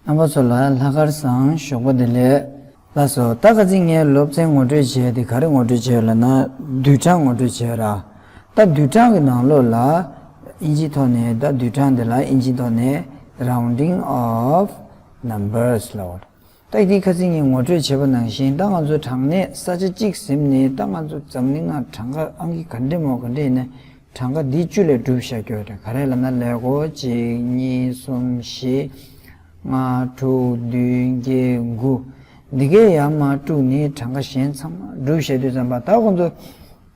རྣམ་པ་ཚོ་ལ་ལྷ་སྐལ་བཟང་ཞོགས་པ་བདེ་ལེགས། ལགས་སོ། ད་ག་ཚིག་ངའི་སློབ་ཚན་ངོ་སྤྲོད་བྱས་དེ་ག་རེ་ངོ་སྤྲོད་བྱས་ལ་ན་བསྡུས་གྲངས་ངོ་སྤྲོད་བྱས་ར། ད་བསྡུས་གྲངས་ཀྱི་ནང་ལོགས་ལ་ཨིན་ཇིའི་ཐོག་ནས་ད་བསྡུས་གྲངས་དེ་ལ་ཨིན་ཇིའི་ཐོག་ནས Rounding of Numbers ལ་འོ། རྟགས་ཀྱི་ཁ་ཚིག་གཉིས་ངོ་སྤྲོད་བྱས་པ་ནང་བཞིན་ད་ང་ཚོ་དྲང་གནས་ས་ཆ་གཅིག་གཟིམ་ནས་ད་ང་ཚོ་འཛམ་གླིང་ནང་གྲངས་ཀ་ཨང་ཀི་ག་འདྲེ་མོ་ག་འདྲེ་ཡིན་ན་གྲངས་ཀ་འདི་བཅུ་ལས་བསྒྲུབ་བཞག་རྒྱུ་རེད་ག་རེ་ལབ་ན་ལེགས་གོ་གཅིག་གཉིས་གསུམ་བཞི་ལྔ་དྲུག་བདུན་བརྒྱད་དགུ་འདི་གའི་ཡར་མར་དཀྲུགས་ནས་གྲངས་ཀ་གཞན་ཚང་མ་བསྒྲུབ་བཞག་རྒྱུ་བརྩམས་པ་ད་ཁོང་ཚོ།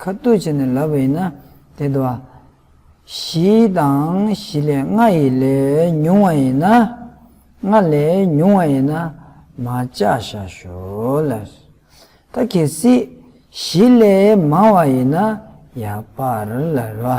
ཁ་བཏུད་བྱས་ནས་ལབ་པ་ཡིན་ན་དེ་དུ་བ། བཞི་དང་བཞི་ལས་ལྔ་ཡི་ལས་ཉུང་བ་ཡིན་ན། ལྔ་ལས་ཉུང་བ་ཡིན་ན་མ་བཅའ་བྱ་ཞོ་ལ། ད་གེ་སྲིད་བཞི་ལས་མང་བ་ཡིན་ན་ཡག་པར་ལ་རོ།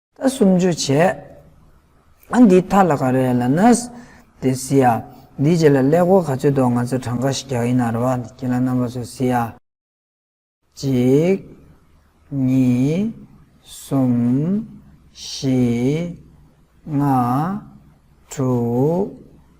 ད་སུམ་ཅུ་བྱས། ཨ་འདི་ཐ་ལ་ག་རེད་ལ་ནས་དེ་བཟི་ཡ། འདིའི་རྗེས་ལ་ཀླད་ཀོར་ག་ཚོད་འདུག་ང་ཚོས་གྲངས་ཀ་ཞིག་རྒྱག་ཡིན་ནའ་རེ་བ། ཁྱེད་ལ་རྣམ་པ་ཚོས་བཟི་ཡ། གཅིག། གཉིས། གསུམ། བཞི། ལྔ། དྲུག།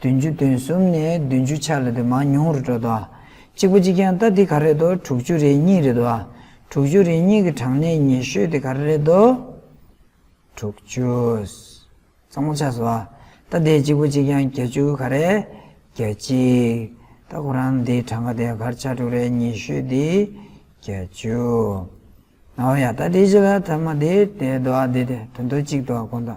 བདུན་ཅུ་དོན་གསུམ་ནས་བདུན་ཅུ་ཆ་ལ་དུ་མ་ཉུང་རུ་འགྲོ་དོ། གཅིག་པ་གཅིག་ཀྱང་རྟ་འདི་ག་རེད་དོ་དྲུག་ཅུ་རེ་གཉིས་རེད་དོ། དྲུག་ཅུ་རེ་གཉིས་ཀྱི་གྲངས་ནི་ཉེ་ཤོས་དེ་ག་རེ་རེད་དོ། དྲུག་ཅུ། གཙང་མ་ཆགས་སོ། རྟ་འདི་གཅིག་པོ་གཅིག་ཀྱང་བརྒྱད་ཅུ་ག་རེ། བརྒྱད་གཅིག། རྟ་ཁོ་རང་འདིའི་གྲངས་ཀ་དེ་གར་ཆ་དྲུག་རེ་ཉེ་ཤོས་འདི་བརྒྱད་ཅུ། ནའོ་ཡ་རྟ་འདི་ཅི་ལ་ཐ་མ་འདི་དེ་དོ་ཨ་འདི་དེ་དོན་དོ་གཅིག་དོ་ཨ་དགོངས་དོ།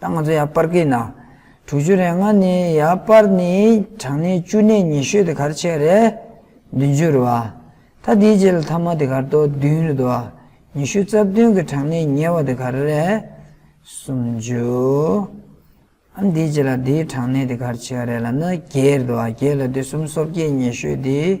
ད་ང་ཚོ་ཡར་སྤར་གྱི་ན་དྲུག་ཅུ་རེ་ལྔ་ནི་ཡར་སྤར་ནི་གྲངས་ནི་བཅུ་གནས་ཉི་ཤུ་དེ་གར་ཕྱེད་རེ། བདུན་ཅུ་རེ་བ། ད་དེའི་རྗེས་ལ་ཐ་མ་དེ་གར་དོ་བདུན་རེ་དོ། ཉི་ཤུ་རྩ་བདུན་གྱི་གྲངས་ནི་ཉེ་བ་དེ་གར་རེ། སུམ་ཅུ། ཨ་དེའི་རྗེས་ལ་དེའི་གྲངས་ནི་དེ་གར་ཕྱེད་རེ་ལ་ནི་བརྒྱད་རེ་དོ་བརྒྱད་ལ་དེ་གསུམ་སོ་བརྒྱད་ཉི་ཤུ་དེ།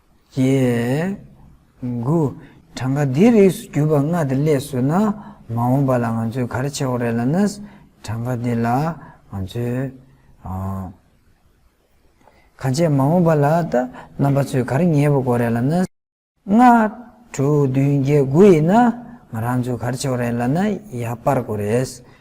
ཀྱི། དགུ། གྲངས་ཀ་འདིའི་རིགས་སུ་གྱུར་པ་ལྔ་དེ་སླད་བཟོས་ན་མ་འོངས་པ་ལ་ང་ཚོས་ག་རེ་བྱེད་འོག་རེད་ལ་ན། གྲངས་ཀ་འདི་ལ་ང་ཚོས། གང་བྱེད་མ་འོངས་པ་ལ་ད་རྣམ་པ་ཚོས་ག་རེ་ངེས་པ་གོ་རེད་ལ་ན། ལྔ། དྲུག་བདུན་བརྒྱད་དགུ་ཡིན་ན་ང་རང་ཚོས་ག་རེ་བྱེད་འོག་རེད་ལ་ན་ཡར་སྤར་དགོས་རེད།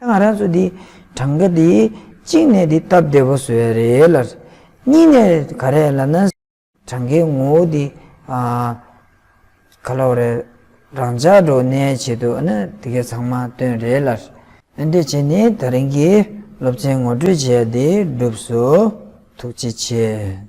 ད་ང་རང་ཚོ་འདིའི་གྲངས་ཀ་འདི་གཅིག་ནས་འདི་སྟབས་བདེ་བོ་བཟོས་ཡ་རེད་ལ། གཉིས་ནས་ག་རེ་ལ་ན། གྲངས་ཀའི་ངོ་བོ་འདི། ག་ལ་བ་རེད། རང་ཅག་འགྲོ་བ་ནའི་ཆེད་དུ་ཨ་ན་དེ་གའི་ཚང་མ་བཏོན་རེད་ལ། འདི་བྱས་ནས་ད་རིང་གི་སློབ་ཚན་ངོ་སྤྲོད་བྱས་ཡ་འདི་སྒྲུབས་སོ། ཐུགས་རྗེ་ཆེ།